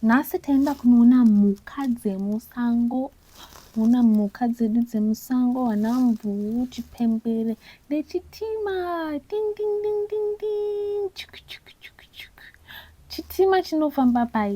nhasi taenda kunoona mhuka dzemusango ona mhuka dzedu dzemusango vana mvuu chipembere nechitima dingdingdingdingding chitima chinofamba pai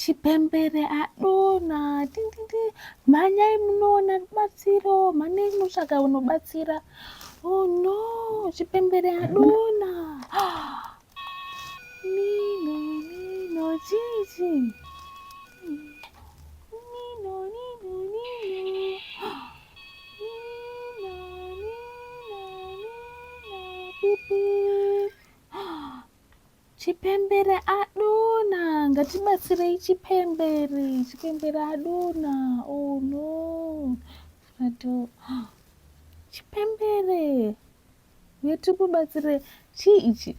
Chipembere adona tindindi mhanyai munoona rubatsiro mhanyai munotsvaga unobatsira oh no chipembere adona nino nino chichi nino nino nino Chipembere adona ngatibatsirei chipembere chipembere adona oh no ato chipembere yetikubatsire chii ichi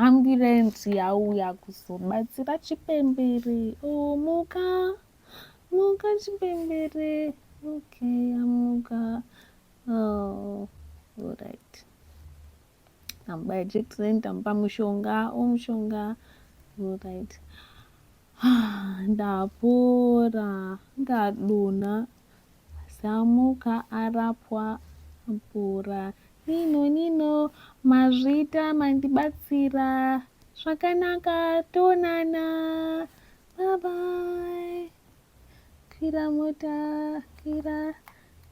ambulensi yauya kuzobatsira chipembere oh muka muka chipembere okay amuka oh, all right tamubaya jekiseni tamupa mushonga o oh, mushonga right ndapora ndadona samuka arapwa apora nino nino mazvita mandibatsira zvakanaka tonana babai kwira mota kwira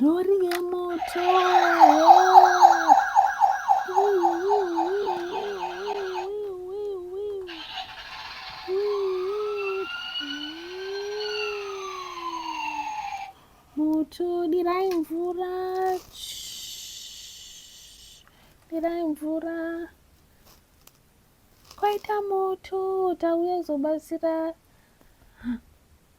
Rori yemoto. Moto dirai mvura. Dirai mvura. Kwaita moto tauya kuzobatsira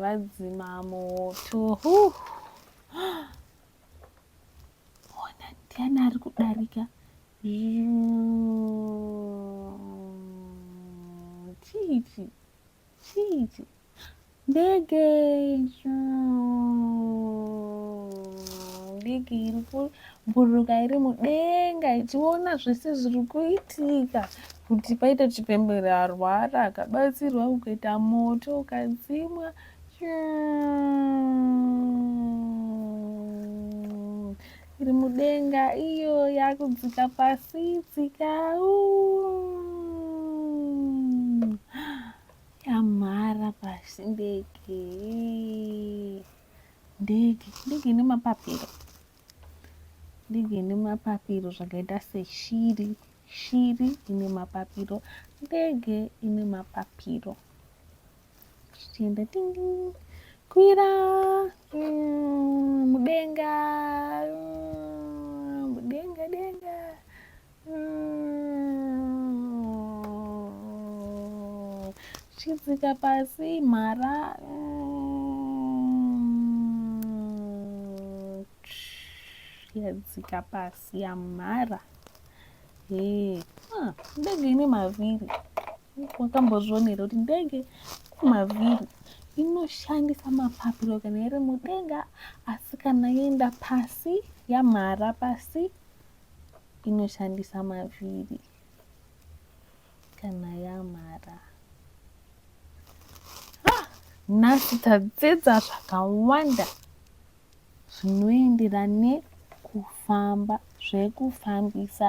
Vadzima moto. Ona ndiani ari kudarika. Chichi. Chii ichi? Ndege ndege iri kubhururuka iri mudenga ichiona zvese zviri kuitika kuti paita chipembere arwara akabatsirwa kukaita moto ukadzimwa iri mudenga iyo yakudzika pasi dzika yamhara pasi ndege ndege ndege ine mapapiro ndege ine mapapiro zvakaita seshiri shiri ine mapapiro ndege ine mapapiro tichienda tingi kwira mm, mudenga mm, mudenga denga mm, chidzika pasi mhara mm, yadzika pasi yamhara hey. ah, ndege ine mavhiri wakambozvionera kuti ndege kumavhiri inoshandisa mapapiro kana iri mudenga asi kana yoenda pasi yamhara pasi inoshandisa mavhiri kana yamhara ah, nhasi tadzidza zvakawanda zvinoenderana nekufamba zvekufambisa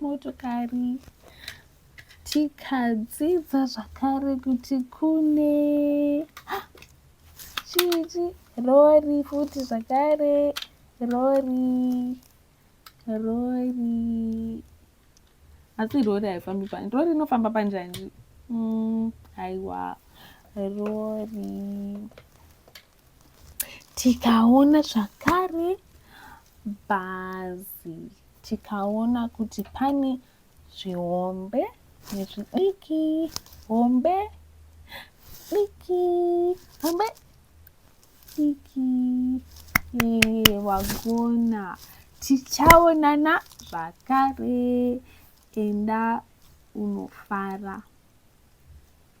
motokari tikadzidza zvakare kuti kune chii rori futi zvakare rori rori asi rori haifambi pani rori inofamba panjanji mm, haiwa rori tikaona zvakare bhazi tikaona kuti pane zvihombe nezvidiki hombe diki hombe diki wagona tichaonana zvakare enda unofara